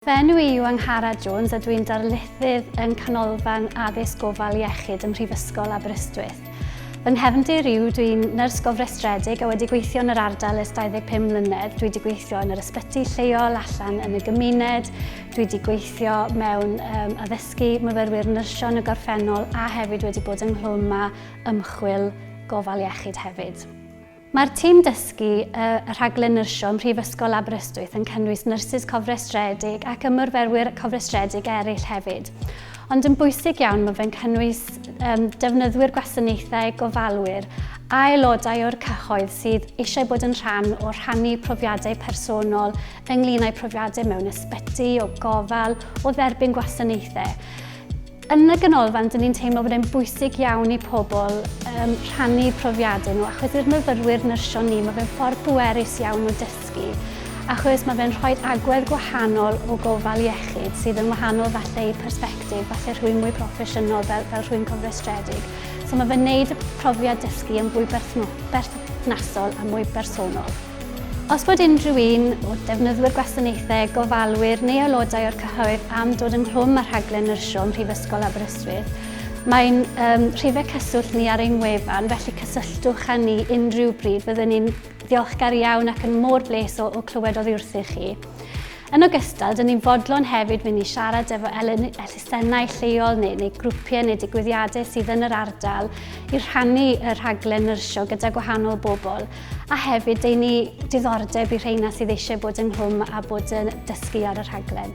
Fy enw i yw Angharad Jones a dw i'n darlithydd yng Nghanolfan Addysg Gofal Iechyd ym Mhrifysgol Aberystwyth. Fy nghefndir yw dw i'n nyrs gofrestredig a wedi gweithio yn yr ardal ers 25 mlynedd. Dw i wedi gweithio yn yr ysbyty lleol, allan yn y gymuned, dw i wedi gweithio mewn um, addysgu myfyrwyr nyrsio yn y gorffennol a hefyd wedi bod ynghlwm â ymchwil gofal iechyd hefyd. Mae'r tîm dysgu y Rhaglen Nyrsio ym Mhrifysgol Aberystwyth yn cynnwys nyrsys cofrestredig ac ymyrferwyr cofrestredig eraill hefyd. Ond yn bwysig iawn mae fe'n cynnwys um, defnyddwyr gwasanaethau, gofalwyr a aelodau o'r cyhoedd sydd eisiau bod yn rhan o rhannu profiadau personol ynglyn â'i profiadau mewn ysbyty, o gofal, o dderbyn gwasanaethau. Yn y Ganolfan, dyn ni'n teimlo bod e'n bwysig iawn i pobl um, rhannu profiadau nhw, achos i'r myfyrwyr nyrsio ni, mae fe'n ffordd bwerus iawn o dysgu, achos mae fe'n rhoi agwedd gwahanol o gofal iechyd, sydd yn wahanol falle i persbectif, falle rhywun mwy proffesiynol fel, fel rhywun cofrestredig. So mae fe'n neud y profiad dysgu yn fwy berthnasol a mwy bersonol. Os bod unrhyw un o defnyddwyr gwasanaethau, gofalwyr neu aelodau o'r cyhoedd am dod ynghlwm â rhaglen nyrsio ym Mhrifysgol Aberystwyth, mae'n um, rhifau cyswllt ni ar ein wefan, felly cysylltwch â ni unrhyw bryd. Byddwn ni'n ddiolchgar iawn ac yn môr bles o, o clywed oddi wrthych chi. Yn ogystal, dyn ni'n fodlon hefyd mynd i siarad efo elusennau lleol neu, neu grwpiau neu digwyddiadau sydd yn yr ardal i rhannu y rhaglen nyrsio gyda gwahanol bobl. a hefyd dei ni diddordeb i rheina sydd eisiau bod yn hwm a bod yn dysgu ar y rhaglen.